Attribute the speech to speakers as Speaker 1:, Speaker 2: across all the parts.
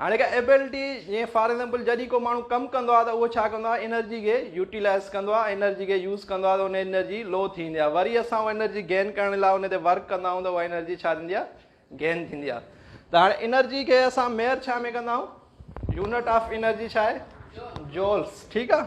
Speaker 1: هاڻي هڪ ايبلٽي جيئن فار ايگزامپل جڏهن ڪو ماڻهو ڪم ڪندو آهي ته اهو ڇا ڪندو آهي انرجي کي يوٽيلائز ڪندو آهي ۽ انرجي کي يوز ڪندو آهي ته ان انرجي لو ٿيندي آهي وري اسان اها انرجي گين ڪرڻ لاء ان تي ورڪ ڪندا آهيون ته اها انرجي ڇا ٿيندي آهي گين ٿيندي آهي ته هاڻي انرجي کي اسان ميئر ڇا ۾ ڪندا آهيون يونٽ آف انرجي ڇا آهي جولس ٺيڪ آهي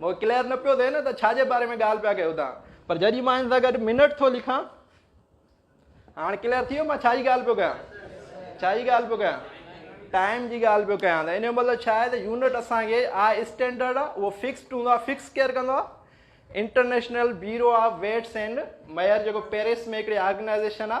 Speaker 1: مون کي ڪليئر نه پيو ٿئي نه ته ڇا جي باري ۾ ڳالهه پيا ڪيو تان پر جڏهن مان هن سان گڏ منٽ ٿو لکان هاڻي ڪليئر ٿي ويو مان ڇا جي ڳالهه پيو ڪيان ڇا جي ڳالهه پيو ڪيان ٽائم جي ڳالهه پيو ڪيان ته ان جو مطلب ڇا آهي ته يونٽ اسانکي آ اسٽينڈرڊ آ اهو فڪسڊ هوندو آ فڪس ڪيئر ڪندو آ international bureau of weights and measure جيڪو پيرس ۾ هڪڙي آرگنائزيشن آ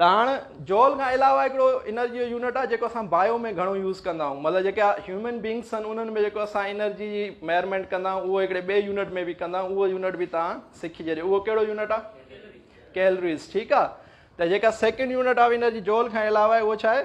Speaker 1: ته هاڻ جول کان علاوه هڪڙو انرجي جو يونٽ آهي جيڪو اسان بايو ۾ گهڻو يوز ڪندا آهيون مطلب جيڪا هيومن بينگس آهن انهن ۾ جيڪو اسان انرجي جي ميئرمينٽ ڪندا آهيون اهو هڪڙي ٻئي يونٽ ۾ به ڪندا آهيون اهو يونٽ به تان سکي ڇڏيو اهو ڪهڙو يونٽ آهي ڪيلريز ٺيڪ آهي ته جيڪا second unit of energy joule کان علاوه اهو ڇا آهي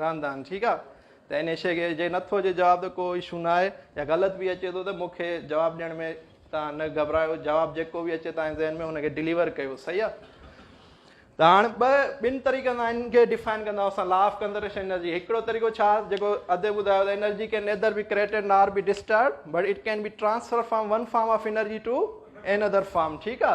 Speaker 1: راندان ٺيڪ آ ته انهي شي کي جي نٿو اچي جواب ته ڪو اشو نه آهي يا غلط به اچي ٿو ته مون کي جواب ڏيڻ ۾ تان نه گهبرايو جواب جيڪو به اچي تان ذهن ۾ ان کي ڊليور ڪيو صحيح آ ته هاڻ ٻه ٻن طريقن سان ان کي ڊيفائن ڪندا اسان لا آف ڪنزرويشن انرجي هڪڙو طريقو ڇا جيڪو اڌ ٻڌايو ته انرجي کي nether be created nor be disturb but it can be transfer from one form of energy to another form ٺيڪ آ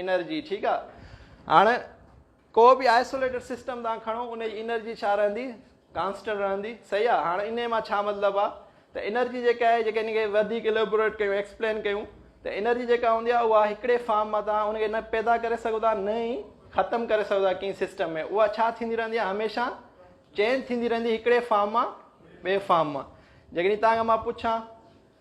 Speaker 1: انرجي ٺيڪ آ هاڻ ڪو به آئسوليٽيڊ سسٽم تان کڻو ان جي انرجي ڇا رهندي ڪانسٽنٽ رهندي صحيح آ هاڻ انهي مان ڇا مطلب آ ته انرجي جيڪا آهي جيڪا ان کي وڌيڪ اليبوريٽ ڪيون ايڪسپلين ڪيون ته انرجي جيڪا هوندي آ اها هڪڙي فارم مان تان ان کي نه پيدا ڪري سگهو ٿا نه ئي ختم ڪري سگهو ٿا ڪنهن سسٽم ۾ اها ڇا ٿيندي رهندي آ هميشه چينج ٿيندي رهندي هڪڙي فارم مان ٻي فارم مان جيڪڏهن توهان کان مان پڇان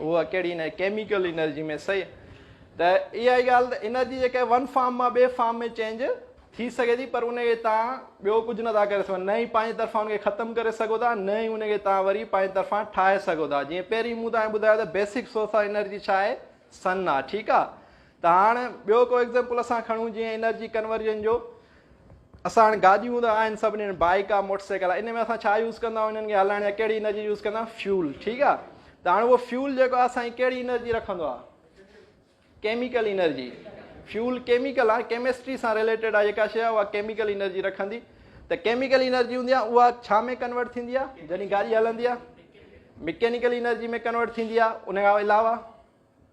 Speaker 1: هو ڪهڙي هن ڪيميڪل انرجي ۾ سهي ته اها ئي ڳالهه ته انرجي جيڪا آهي ون فارم مان ٻي فارم ۾ چينج ٿي سگهي ٿي پر ان کي توهان ٻيو ڪجهه نه ٿا ڪري سگهو نه ئي پنهنجي طرفان ان کي ختم ڪري سگهو ٿا نه ئي ان کي توهان وري پنهنجي طرفان ٺاهي سگهو ٿا جيئن پهرين مون توهان کي ٻڌايو ته بيسڪ سورس آف انرجي ڇا آهي سن آهي ٺيڪ آهي ته هاڻ ٻيو ڪو ايگزيمپل اسان کڻون جيئن انرجي ڪنورجن جو اسان هاڻ گاڏيون ته آهن سڀني هنڌ بائيڪ آهي موٽر سائيڪل آهي ان ۾ اسان ڇا يوز ڪندا آهيون انهن کي هلائڻ لاء ڪهڙي انرجي يوز ڪندا آهيون فيول ٺيڪ آهي ته هاڻ اهو فيول جيڪو آهي سائين ڪهڙي انرجي رکندو آهي ڪيميڪل انرجي فيول ڪيميڪل آ ڪيمسٽري سان ريليٽيڊ آ جيڪا شي آ اها ڪيميڪل انرجي رکندي ته ڪيميڪل انرجي هوندي آ اها ڇا ۾ ڪنورٽ ٿيندي آ جڏهن گاڏي هلندي آ مڪينيڪل انرجي ۾ ڪنورٽ ٿيندي آ ان کان علاوه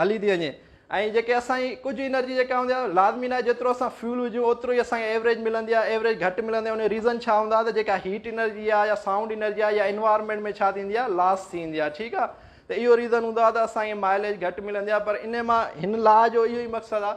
Speaker 1: هلي ٿي وڃي ۽ جيڪي اسان جي ڪجهه انرجي جيڪا هوندي آهي لازمي ناهي جيترو اسان فيول وجهون اوترو ئي اسان کي ايوريج ملندي آهي ايوريج گهٽ ملندي آهي ان جو ريزن ڇا هوندا ته جيڪا هيٽ انرجي آهي يا سائونڊ انرجي آهي يا انوائرمينٽ ۾ ڇا ٿيندي آهي لاس ٿي ويندي آهي ٺيڪ آهي ته اهو ريزن هوندو آهي ته اسان کي مائليج گهٽ ملندي آهي پر ان مان هن لا جو اهو ئي مقصد آهي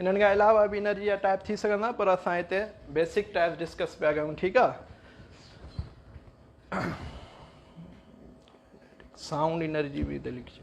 Speaker 1: انهن کان علاوه به انرجي جا ٽائپ ٿي سگهندا پر اسان هتي بيسڪ ٽائپ ڊسڪس پيا ڪيون ٺيڪ آ سائونڊ انرجي به هتي لکجي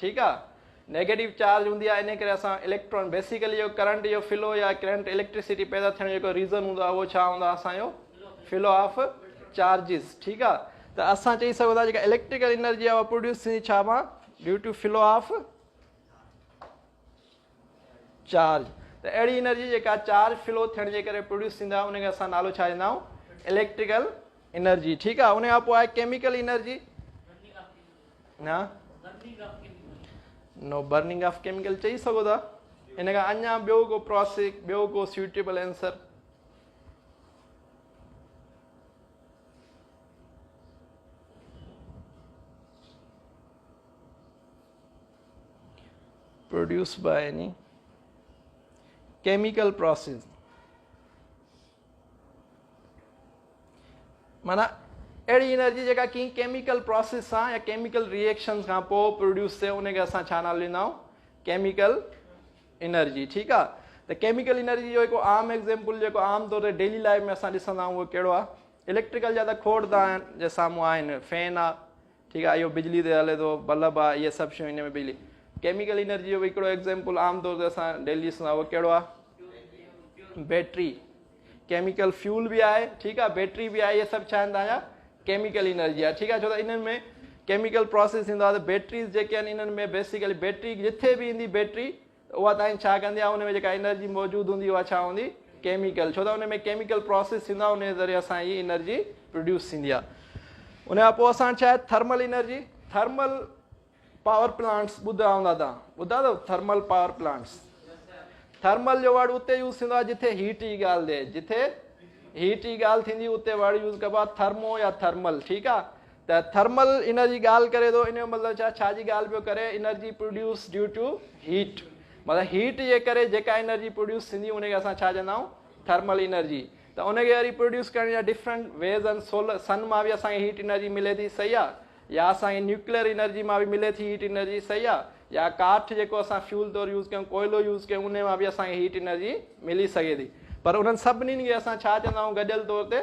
Speaker 1: ٺيڪ آ نيگيٽو چارج هوندي آ انهي ڪري اسان اليڪٽرون بيسيڪلي جو ڪرنٽ جو فلو يا ڪرنٽ اليڪٽريسٽي پيدا ٿيڻ جو جيڪو ريزن هوندو آ اهو ڇا هوندو آ اسان جو فلو آف چارجز ٺيڪ آ ته اسان چئي سگهون ٿا جيڪا اليڪٽريڪل انرجي آ اها پروڊيوس ٿيندي ڇا مان due to flow of charge, ته اهڙي انرجي جيڪا چارج فلو ٿيڻ جي ڪري پروڊيوس ٿيندي آهي ان کي اسان نالو ڇا ڏيندا آهيون اليڪٽريڪل انرجي ٺيڪ آهي ان کان پوء آهي ڪيميڪل انرجي ها نو برننگ آف ڪيميڪل چئي سگھو ٿا ان کان اڃا ٻيو ڪو پروسيس ٻيو ڪو suitable answer Produced by any Chemical process معنيٰ اهڙي انرجي جيڪا ڪنهن ڪيميڪل پروسيس سان يا ڪيميڪل ريئيڪشنز کان پوء پروڊيوس ٿئي ان کي اسان ڇا نالو ڏيندا آهيون ڪيميڪل انرجي ٺيڪ آ ته ڪيميڪل انرجي جو هڪ عام ايگزامپل جيڪو عام طور تي ڊيلي لائف ۾ اسان ڏسندا آهيون اهو ڪهڙو آهي اليڪٽريڪل جا ته کوڙ دا جي سامهون آهن فين آ ٺيڪ آ اهو بجلي تي هلي ٿو بلب آ اهي سڀ شيون ان ۾ بجلي ڪيميڪل انرجي جو به هڪڙو ايگزامپل عام طور تي اسان ڊيلي ڏسندا اهو ڪهڙو آ بيٽري ڪيميڪل فيول به آهي ٺيڪ آ بيٽري به آهي اهي سڀ ڇا آهن تنهنجا ڪيميڪل انرجي آهي ٺيڪ آ ڇو ته انهن ۾ ڪيميڪل پروسيس ٿيندو آهي ته بيٽريز جيڪي آهن انهن ۾ بيسيڪلي بيٽري جتي به ايندي بيٽري اها تائين ڇا ڪندي ۽ ان ۾ جيڪا انرجي موجود هوندي اها ڇا هوندي؟ ڪيميڪل ڇو ته ان ۾ ڪيميڪل پراسيس ٿيندو آهي انهي ذريعي سان هي انرجي پروڊيوس ٿيندي آهي ان کان پوء اسان ڇا آهي thermal energy thermal power plants ٻڌا هوندا تان ٻڌا اٿو ٿرمل پاور پلانٽس ٿرمل جو ورڊ اتي يوز ٿيندو آهي جتي هيٽ جي ڳالهه ٿئي جتي هيٽ جي ڳالهه ٿيندي اتي ورڊ يوز ڪبو آهي ٿرمو يا ٿرمل ٺيڪ آهي ته ٿرمل انرجي ڳالهه ڪري ٿو ان جو مطلب ڇا ڇا جي ڳالهه پيو ڪري energy produce due to heat مطلب هيٽ جي ڪري جيڪا انرجي پروڊيوس ٿيندي ان کي اسان ڇا چوندا آهيون ٿرمل انرجي ته ان کي وري پروڊيوس ڪرڻ جا ڊفرنٽ ويز آهن سول سن مان به اسانکي هيٽ انرجي ملي ٿي صحيح آهي يا اسانکي نيوڪليئر انرجي مان به ملي ٿي هيٽ انرجي صحيح آهي يا ڪاٺ جيڪو اسان فيول طور يوز ڪيون ڪوئلو يوز ڪيون ان مان به اسانکي هيٽ انرجي ملي سگهي ٿي پر انهن سڀني کي اسان ڇا چوندا آهيون گڏيل طور تي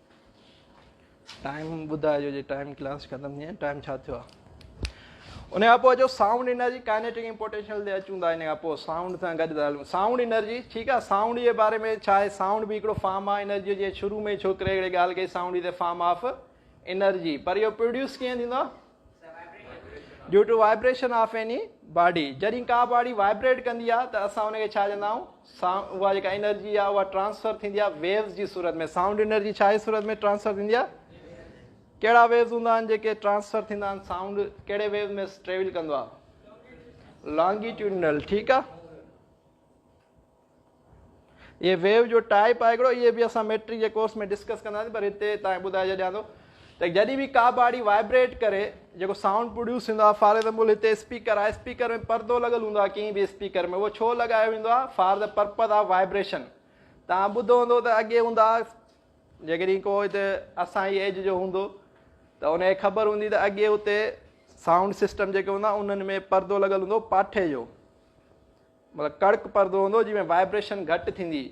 Speaker 1: ٽائيم ٻڌائجو جي ٽائيم ڪلاس ختم ٿي ٽائيم ڇا ٿيو آهي ان کان پوء جو سائونڊ انرجي ڪائنيٽڪ ۽ پوٽينشل تي اچون ٿا ان کان پوء سائونڊ سان گڏ ٿا هلون سائونڊ انرجي ٺيڪ آهي سائونڊ جي باري ۾ ڇا آهي سائونڊ به هڪڙو فارم آف انرجي جي شروع ۾ ڇوڪري هڪڙي ڳالهه ڪئي sound is a form of energy پر اهو پروڊيوس ڪيئن ٿيندو آهي due to vibration of any body جڏهن ڪا باڊي وائبريٽ ڪندي آهي ته اسان ان کي ڇا چوندا آهيون اها جيڪا انرجي آهي اها ٽرانسفر ٿيندي آهي ويوز جي صورت ۾ سائونڊ انرجي ڇا جي صورت ۾ ٽرانسفر ٿيندي آهي ڪهڙا ويوز هوندا آهن جيڪي ٽرانسفر ٿيندا آهن سائونڊ کيڙي ويوز ۾ ٽريول ڪندو آهي لانگيٽيوڊنل ٺيڪ آهي اهي ويو جو ٽائيپ آهي هڪڙو اهي به اسان ميٽرڪ جي ڪورس ۾ ڊسڪس ڪنداسين پر هتي تان ٻڌائي ڇڏيان ٿو ته جڏهن به ڪا باڙي وائبريٽ ڪري جيڪو سائونڊ پروڊيوس ٿيندو آهي فار ايگزامپل هتي اسپيڪر آهي اسپيڪر ۾ پردو لڳل هوندو آهي ڪنهن به اسپيڪر ۾ اهو ڇو لڳايو ويندو آهي for the purpose of vibration تان ٻڌو هوندو ته اڳي هوندا جيڪڏهن کو هتي اسان جي ايج جو هوندو ته ان کي خبر هوندي ته اڳي هتي سائونڊ سسٽم جيڪي هوندا انهن ۾ پردو لڳل هوندو پاٺي جو مطلب ڪڙڪ پردو هوندو جنهن ۾ وائبريشن گهٽ ٿيندي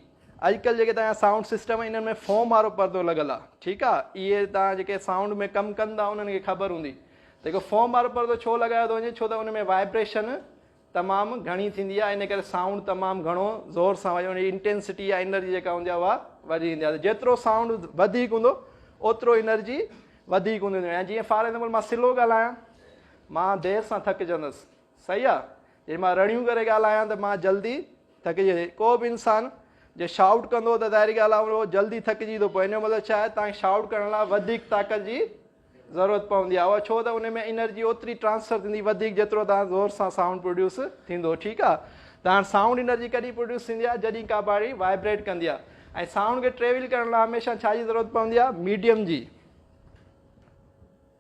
Speaker 1: اڄڪلهه جيڪي تنهنجا سائونڊ سسٽم انهن ۾ فوم وارو پردو لڳل آ ٺيڪ آ اهي تنهنجا جيڪي سائونڊ ۾ ڪم ڪن ٿا انهن کي خبر هوندي ته اهو فوم وارو پردو ڇو لڳايو ٿو وڃي ڇو ته ان ۾ وائبريشن تمام گهڻي ٿيندي آ ان ڪري سائونڊ تمام گهڻو زور سان وڄي ان جي انٽينسٽي يا انرجي جيڪا هوندي آ اها وڌي ويندي آ جيترو سائونڊ وڌيڪ هوندو اوترو انرجي وڌيڪ هوندي ويندي آ جيئن فار ايگزامپل مان سلو ڳالهايان مان دير سان ٿڪجندس صحيح آ جي مان رڙيون ڪري ڳالهايان ته مان جلدي ٿڪجي ويندي ڪو به انسان جي شائوٽ ڪندو ته ظاهري ڳالهه آ اهو جلدي ٿڪجي ٿو پوي ان جو مطلب ڇا آهي تان شائوٽ ڪرڻ لاء وڌيڪ طاقت جي ضرورت پوندي آهي اها ڇو ته ان ۾ انرجي اوتري ٽرانسفر ٿيندي وڌيڪ جيترو تان زور سان سائونڊ پروڊيوس ٿيندو ٺيڪ آ ته هاڻ سائونڊ انرجي ڪڏهن پروڊيوس ٿيندي آهي جڏهن ڪا باڊي وائبريٽ ڪندي آهي ۽ سائونڊ کي ٽريول ڪرڻ لاء هميشه ڇا جي ضرورت پوندي آهي ميڊيم جي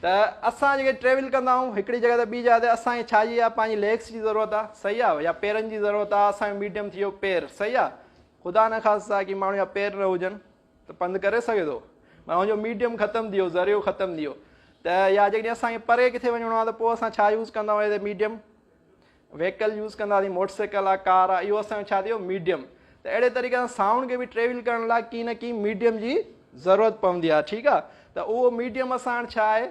Speaker 1: ته اسان جيڪي ٽريول ڪندا آهيون هڪڙي جڳهه تي ٻي جاء تي اسان کي ڇا جي آهي پنهنجي ليگس جي ضرورت آهي صحيح آهي يا پيرن جي ضرورت آهي اسان جو ميڊيم ٿي ويو پير صحيح آهي خدا نه خاصا ڪي ماڻهو جا پير نه هجن ته پنڌ ڪري سگهي ٿو مانا هن جو ميڊيم ختم ٿي ويو ذريعو ختم ٿي ويو ته يا جيڪڏهن اسان کي پري ڪٿي وڃڻو آهي ته پوء اسان ڇا يوز ڪندا آهيون ميڊيم ويهڪل يوز ڪنداسين موٽر سائيڪل آ ڪار آ اهو اسان جو ڇا ٿيو ميڊيم ته اهڙي طريقي سان سائونڊ کي به ٽريول ڪرڻ لاء ڪي نه ڪي ميڊيم جي ضرورت پوندي آ ٺيڪ آ ته اهو ميڊيم اسان هاڻ ڇا آهي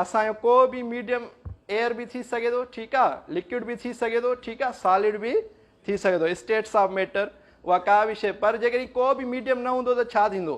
Speaker 1: اسان جو ڪو به ميڊيم ايئر به ٿي سگهي ٿو ٺيڪ آ لڪوڊ به ٿي سگهي ٿو ٺيڪ آ سالڊ به ٿي سگهي ٿو اسٽيٽس آف ميٽر اها ڪا به شيء پر جيڪڏهن ڪو به ميڊيم نه هوندو ته ڇا ٿيندو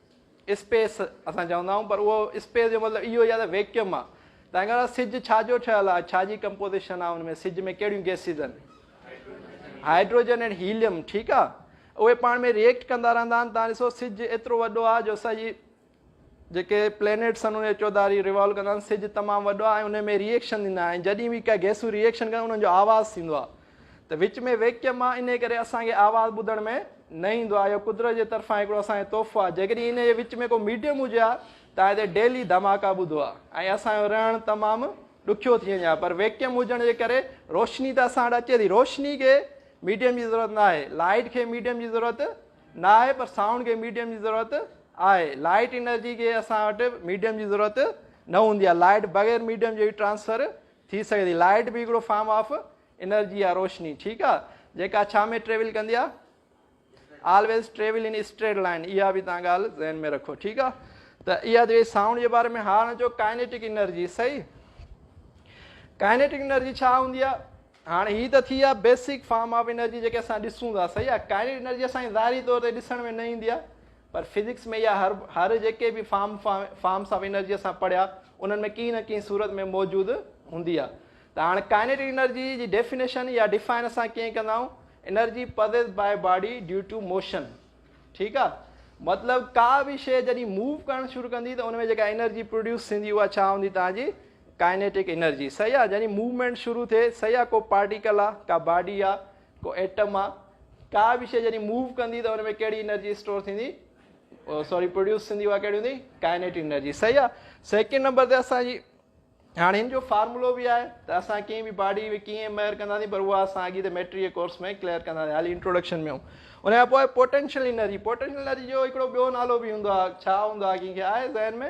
Speaker 1: اسپيس اسان چوندا آهيون پر اهو اسپيس جو مطلب اهو ئي آهي ته ويڪيوم آهي. تنهن ڪري سج ڇا جو ٺهيل آهي؟ ڇا جي ڪمپوزيشن آهي ان ۾؟ سج ۾ ڪهڙيون گئسز آهن؟ هائڊروجن ۽ هيليم ٺيڪ آهي. اهي پاڻ ۾ ريئيڪٽ ڪندا رهندا آهن. توهان ڏسو سج ايترو وڏو آهي جو اسان جي جيڪي پلينيٽس آهن ان جي چوڌاري ريوالو ڪندا آهن. سج تمام وڏو آهي ۽ ان ۾ ريئيڪشن ٿيندا آهن ۽ جڏهن به ڪا گئسون ريئيڪشن ڪن انهن جو آواز ٿيندو آهي. ته وچ ۾ ويڪيم آ انهي ڪري اسان کي آواز ٻڌڻ ۾ نه ايندو آ اهو قدرت جي طرفان هڪڙو اسان کي تحفو آ جيڪڏهن انهي جي وچ ۾ ڪو ميڊيم هجي ها ته آء هتي ڊيلي ڌماڪا ٻڌو آ ۽ اسان جو رهڻ تمام ڏکيو ٿي وڃي ها پر ويڪيم هجڻ جي ڪري روشني ته اسان وٽ اچي ٿي روشني کي ميڊيم جي ضرورت نه آهي لائيٽ کي ميڊيم جي ضرورت نه آهي پر سائونڊ کي ميڊيم جي ضرورت آهي لائيٽ انرجي کي اسان وٽ ميڊيم جي ضرورت نه هوندي آ لائيٽ بغير ميڊيم جي ٽرانسفر ٿي سگهي ٿي لائيٽ به هڪڙو فارم آف انرجي آ روشني ٺيڪ آ جيڪا ڇا ۾ ٽريول ڪندي آ always travel in straight line اها به تان ڳالهه ذهن ۾ رکو ٺيڪ آ ته اها ته سائونڊ جي باري ۾ هاڻ جو ڪائنيٽڪ انرجي صحيح ڪائنيٽڪ انرجي ڇا هوندي آ هاڻ هي ته ٿي آ بيسڪ فارم آف انرجي جيڪي اسان ڏسون ٿا صحيح آ ڪائنيٽڪ انرجي اسان ظاهري طور تي ڏسڻ ۾ نه ايندي آ پر فزڪس ۾ يا هر هر جيڪي به فارم فارمس آف انرجي اسان پڙهيا انهن ۾ ڪنهن نه ڪنهن صورت ۾ موجود هوندي آهي ته هاڻي ڪائنيٽڪ انرجي جي ڊيفينيشن يا ڊيفائن اسان ڪيئن ڪندا آهيون energy possess by body due to motion ٺيڪ آهي مطلب ڪا به شيء جڏهن موو ڪرڻ شروع ڪندي ته ان ۾ جيڪا انرجي پروڊيوس ٿيندي اها ڇا هوندي تنهنجي ڪائنيٽڪ انرجي صحيح آهي جڏهن موومينٽ شروع ٿئي صحيح آهي ڪو پارٽيڪل آهي ڪا باڊي آهي ڪو ايٽم آ ڪا به شئي جڏهن موو ڪندي ته ان ۾ ڪهڙي انرجي اسٽور ٿيندي سوري پروڊيوس ٿيندي اها ڪهڙي هوندي ڪائنيٽ انرجي صحيح آ سيڪنڊ نمبر تي اسان جي هاڻي هن جو فارمولو به آهي ته اسان ڪنهن به باڊي ۾ ڪيئن ميئر ڪنداسين پر اها اسان اڳي ته ميٽري ڪورس ۾ ڪليئر ڪنداسين هالي انٽروڊڪشن ۾ ان کان پوء پوٽينشل انرجي پوٽينشل انرجي جو هڪڙو ٻيو نالو به هوندو آهي ڇا هوندو آهي ڪنهن کي آهي ذهن ۾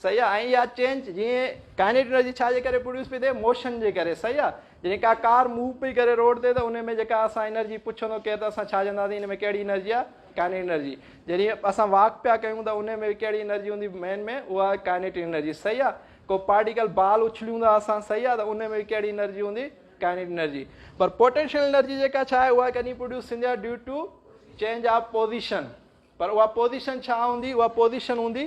Speaker 1: صحيح آ ۽ اها چينج جيئن ڪائنيٽڪ انرجي ڇا جي ڪري پروڊيوس پئي ٿئي موشن جي ڪري صحيح آ جڏهن ڪا ڪار موو پئي ڪري روڊ تي ته ان ۾ جيڪا اسان انرجي پڇندو ڪير ته اسان ڇا چونداسين ان ۾ ڪهڙي انرجي آ ڪائنيٽڪ انرجي جڏهن اسان واڪ پيا ڪيون ته ان ۾ ڪهڙي انرجي هوندي مين ۾ اها ڪائنيٽڪ انرجي صحيح آ ڪو پارٽيڪل بال اڇليون ٿا اسان صحيح آ ته ان ۾ ڪهڙي انرجي هوندي ڪائنيٽڪ انرجي پر پوٽينشل انرجي جيڪا ڇا آهي اها ڪڏهن پروڊيوس ٿيندي آ due to change of position پر اها پوزيشن ڇا هوندي اها پوزيشن هوندي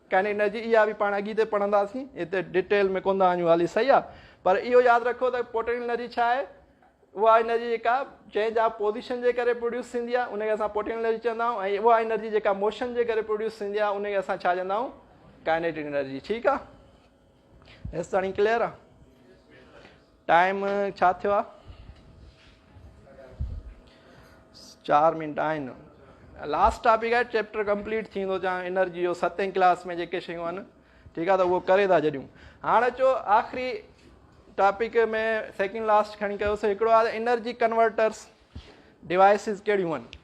Speaker 1: ڪن ان جي اها به پاڻ اڳيتي پڙهنداسين هتي ڊيٽيل ۾ ڪون ٿا وڃون هالي صحيح آ پر اهو ياد رکو ته پوٽينشل انرجي ڇا آهي اها انرجي جيڪا چينج آف پوزيشن جي ڪري پروڊيوس ٿيندي آهي ان کي اسان پوٽينشل انرجي چوندا آهيون ۽ اها انرجي جيڪا موشن جي ڪري پروڊيوس ٿيندي آهي ان کي اسان ڇا چوندا آهيون ڪائنيٽڪ انرجي ٺيڪ آ هيستائين ڪليئر آ ٽائيم ڇا ٿيو آ چار منٽ آهن لاسٽ ٽاپڪ آهي چيپٽر ڪمپليٽ ٿيندو جا انرجي جو ستين ڪلاس ۾ جيڪي شيون آهن ٺيڪ آ ته اهو ڪري ٿا جڏيون هاڻ اچو آخري ٽاپڪ ۾ سيڪنڊ لاسٽ کڻي ڪيوسي هڪڙو آ انرجي ڪنورٽرس ڊوائسز ڪهڙيون آهن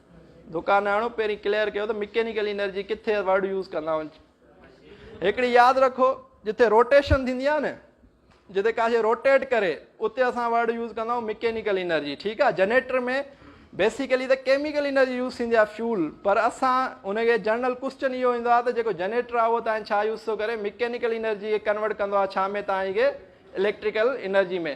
Speaker 1: دڪاناڻو پهرين ڪليئر ڪيو ته مڪينيڪل انرجي ڪٿي ورڊ يوز ڪندا آهن هڪڙي ياد رکو جتي روٽيشن ٿيندي آهي نه جتي ڪا شيء روٽيٽ ڪري اتي اسان ورڊ يوز ڪندا آهيون مڪينيڪل انرجي ٺيڪ آهي جنريٽر ۾ بيسيڪلي ته ڪيميڪل انرجي يوز ٿيندي آهي فيول پر اسان ان کي جنرل ڪوشچن اهو ايندو آهي ته جيڪو جنريٽر آهي اهو تاني ڇا يوز ٿو ڪري مڪينيڪل انرجي کي ڪنورٽ ڪندو آهي ڇا ۾ تاني کي اليڪٽريڪل انرجي ۾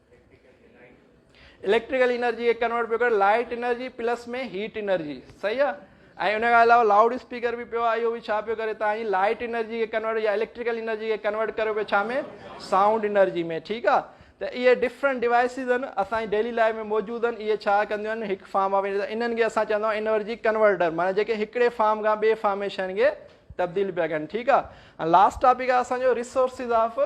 Speaker 1: اليڪٽريڪل انرجي کي ڪنورٽ پيو ڪري light energy plus ۾ heat energy صحيح آ ۽ ان کان علاوه لاؤڊ اسپيڪر به پيو آ اهو به ڇا پيو ڪري تان هي لائٽ انرجي کي ڪنورٽ يا اليڪٽريڪل انرجي کي ڪنورٽ ڪريو پيو ڇا ۾ سائونڊ انرجي ۾ ٺيڪ آ ته اهي ڊفرنٽ ڊوائسز آهن اسان جي ڊيلي لائف ۾ موجود آهن اهي ڇا ڪنديون آهن هڪ فارم آف انهن کي اسان چوندا آهيون انرجي ڪنورٽر معنی جيڪي هڪڙي فارم کان ٻئي فارم ۾ شين کي تبديل پيا ڪن ٺيڪ آ ۽ لاسٽ ٽاپڪ آ اسان جو ريسورسز آف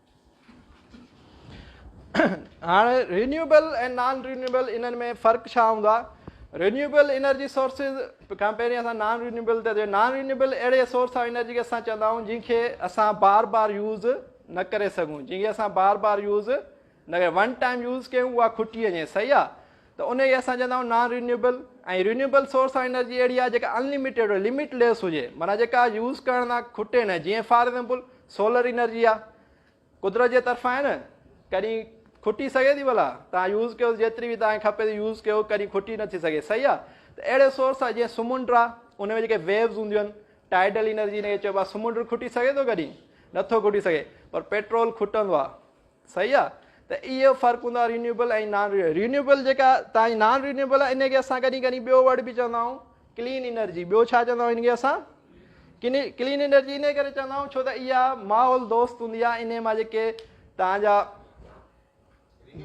Speaker 1: هاڻ رينيوبل ۽ نان رينيوبل انهن ۾ فرق ڇا هوندو آهي رينيوبل انرجي سورسز کان پهرين اسان نان رينيوبل تي نان رينيوبل اهڙي سورس آف انرجي کي اسان چوندا آهيون جن کي اسان بار بار يوز نه ڪري سگھون جن کي اسان بار بار يوز نه ون ٽائم يوز ڪيون اها کٽي وڃي صحيح آهي ته انهيء اسان چوندا آهيون non renewable ۽ renewable source of energy اهڙي آهي جيڪا ان لميٽيڊ هجي، لمٽ ليس هجي، معنيٰ جيڪا يوز ڪرڻ تان کٽي نه، جيئن فار ايگزامپل سولر انرجي آهي، قدرت جي طرفان آهي نه، ڪڏهن کٽي سگهي ٿي ڀلا، توهان يوز ڪيو جيتري به توهان کي کپي ٿي يوز ڪيو، ڪڏهن کٽي نه ٿي سگهي، صحيح آهي، ته اهڙي سورس آهي جيئن سمنڊ آهي، ان ۾ جيڪي ويوز هونديون آهن، ٽائيڊل انرجي ان کي چئبو آهي، سمنڊ کٽي سگهي ٿو ڪڏهن؟ نٿو کٽي سگهي، پر پيٽرول کٽندو آهي، صحيح آ ته اهو فرق هوندو آ رينيوبل ۽ نان رينيوبل رينيوبل جيڪا تاهنجي نان رينيوبل آ ان کي اسان ڪڏهن ڪڏهن ٻيو ورڊ به چوندا آهيون ڪلين انرجي ٻيو ڇا چوندا آهيون ان کي اسان ڪلين انرجي انهي ڪري چوندا آهيون ڇو ته اها ماحول دوست هوندي آ انهي مان جيڪي تاهنجا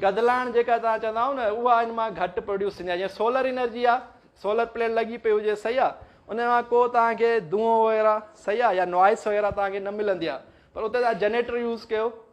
Speaker 1: گدلاڻ جيڪا تان چوندا آهيون نه اها ان مان گهٽ پروڊيوس ٿيندي آ جيئن سولر انرجي آ سولر پليٽ لڳي پئي هجي صحيح آ ان مان ڪو تان کي دونهو وغيره صحيح آ يا نوائس وغيره تان کي نه ملندي آ پر اتي تان جنريٽر يوز ڪيو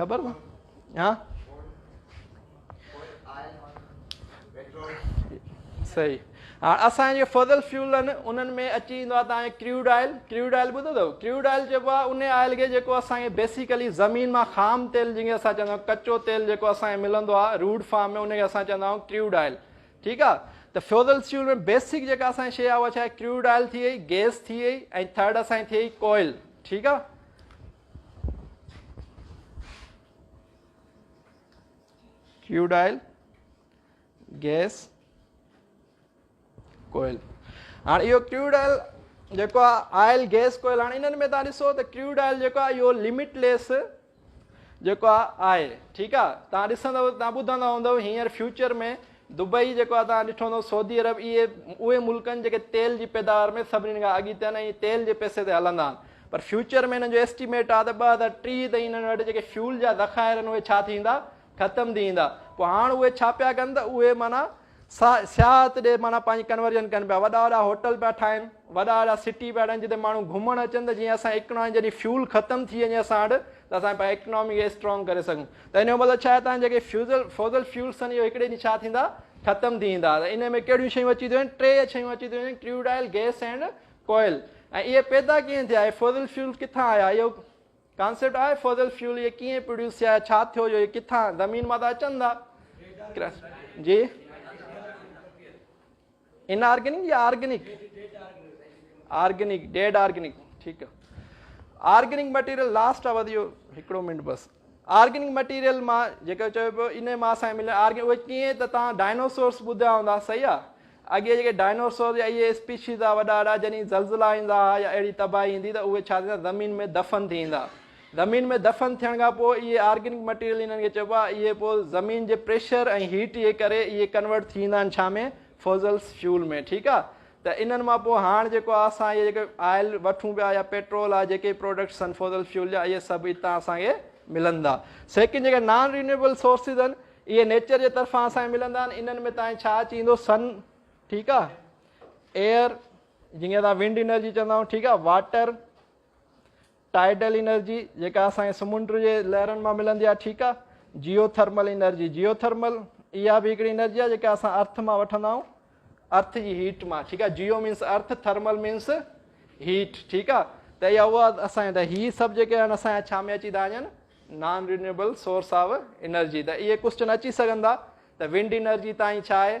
Speaker 1: خبر ڪو ها صحيح ها اسان جو فضل فيول آهن انهن ۾ اچي ويندو آهي تان ڪريوڊ آئل ڪريوڊ آئل ٻڌو اٿو ڪريوڊ آئل چئبو آهي ان آئل کي جيڪو اسان کي بيسيڪلي زمين مان خام تيل جنهن کي اسان چوندا آهيون ڪچو تيل جيڪو اسان کي ملندو آهي روڊ فارم ۾ ان کي اسان چوندا آهيون ڪريوڊ آئل ٺيڪ آهي ته فيوزل فيول ۾ بيسڪ جيڪا اسان شي آهي اها ڇا ڪريوڊ آئل ٿي وئي گيس ٿي وئي ۽ ٿرڊ اسان ٿي وئي ڪوئل ٺيڪ آهي ڪيوڊ آئل گيس ڪوئل هاڻي اهو ڪيوڊ آئل جيڪو آ آئل گيس ڪوئل هاڻي انهن ۾ تان ڏسو ته ڪيوڊ آئل جيڪو آ اهو لمٽ ليس جيڪو آ آهي ٺيڪ آ تان ڏسندو تان ٻڌندا هوندو هينئر فيوچر ۾ دبئي جيڪو آهي توهان ڏٺو هوندو سعودي عرب اهي اهي ملڪ آهن جيڪي تيل جي پيداوار ۾ سڀني کان اڳيتي آهن ۽ تيل جي پئسي تي هلندا آهن پر فيوچر ۾ هنن جو ايسٽيميٽ آهي ته ٻه هزار ٽيهه تائين هنن وٽ جيڪي فيول جا ذخائر آهن اهي ڇا ٿيندا ختم ٿي ويندا پوء هاڻ اهي ڇا پيا ڪن ته اهي معنيٰ سياحت ڏي معنيٰ پنهنجي ڪنورجن ڪن پيا وڏا وڏا هوٽل پيا ٺاهن وڏا وڏا سٽي پيا ٺاهن جتي ماڻهو گهمڻ اچن ته جيئن اسان اڪنامي جڏهن فيول ختم ٿي وڃي اسان وٽ ته اسان پنهنجي اڪنامي کي اسٽرانگ ڪري سگهون ته ان جو مطلب ڇا هتان جيڪي فيوزل فوزل فيولس اهي هڪڙي ڏينهن ڇا ٿيندا ختم ٿي ويندا ته ان ۾ ڪهڙيون شيون اچي ٿيون وڃن ٽي شيون اچي ٿيون وڃن crude oil gas and coal ۽ اهي پيدا ڪيئن ٿيا اهي فوزل فيول ڪٿان آيا اهو ڪانسيپٽ آهي فوزل فيول اهي ڪيئن پروڊيوس ٿيا ڇا ٿيو جو اهي ڪٿان زمين مان ته اچن ٿا جي ان آرگنڪ يا آرگنڪ آرگنڪ ڊيڊ آرگنڪ ٺيڪ آرگنڪ مٽيريل لاسٽ آ وڌيو هڪڙو منٽ بس آرگنڪ مٽيريل مان جيڪو چيو پيو ان مان اسان ملي آرگنڪ اهي ڪيئن ته تان ڊائنوسورس ٻڌا هوندا صحيح آ اڳي جيڪي ڊائنوسور يا اهي اسپيشيز آ وڏا وڏا جني زلزلا ايندا يا اهڙي تباهي ايندي ته اهي ڇا ٿيندا زمين ۾ دفن ٿي ايندا زمين ۾ دفن ٿيڻ کان پوء اهي آرگنڪ مٽيريل انهن کي چئبو آهي اهي پوء زمين جي پريشر ۽ هيٽ جي ڪري اهي ڪنورٽ ٿي ويندا آهن ڇا ۾ فوزلس فيول ۾ ٺيڪ آهي ته انهن مان پوء هاڻ جيڪو آهي اسان اهي جيڪي آئل وٺون پيا يا پيٽرول آهي جيڪي پروڊڪٽس آهن فوزل فيول جا اهي سڀ اتان اسان کي ملندا سيڪنڊ جيڪي نان رينيوبل سورسز آهن اهي نيچر جي طرفان اسان کي ملندا آهن انهن ۾ تاني ڇا اچي ويندو سن ٺيڪ آهي ايئر جنهن کي اسان ونڊ انرجي چوندا آهيون ٺيڪ آهي واٽر ٽائيڊل انرجي جيڪا اسان کي سمنڊ جي لهرن مان ملندي آهي ٺيڪ آهي geothermal energy geothermal اها به هڪڙي انرجي آهي جيڪا اسان ارٿ مان وٺندا آهيون ارٿ جي هيٽ مان ٺيڪ آهي geo means earth thermal means heat ٺيڪ آهي ته اها اها اسان ته هي سڀ جيڪي آهن اسان جا ڇا ۾ اچي ٿا وڃن non renewable source of energy ته اهي ڪوشچن اچي سگهندا ته ونڊ انرجي تائين ڇا آهي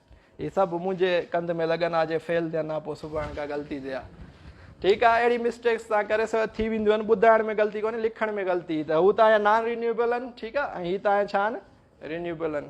Speaker 1: هي سڀ منهنجي ڪنڌ ۾ لڳن ها جي فيل ٿين ها پوء سباڻ ڪا غلطي ٿئي ها ٺيڪ آهي اهڙي مسٽيڪس تان ڪري سڀ ٿي وينديون آهن ٻڌائڻ ۾ غلطي ڪونهي لکڻ ۾ غلطي ته هو تانيا نان رينيوبل آهن ٺيڪ آهي ۽ هي تانيا ڇا آهن رينيوبل آهن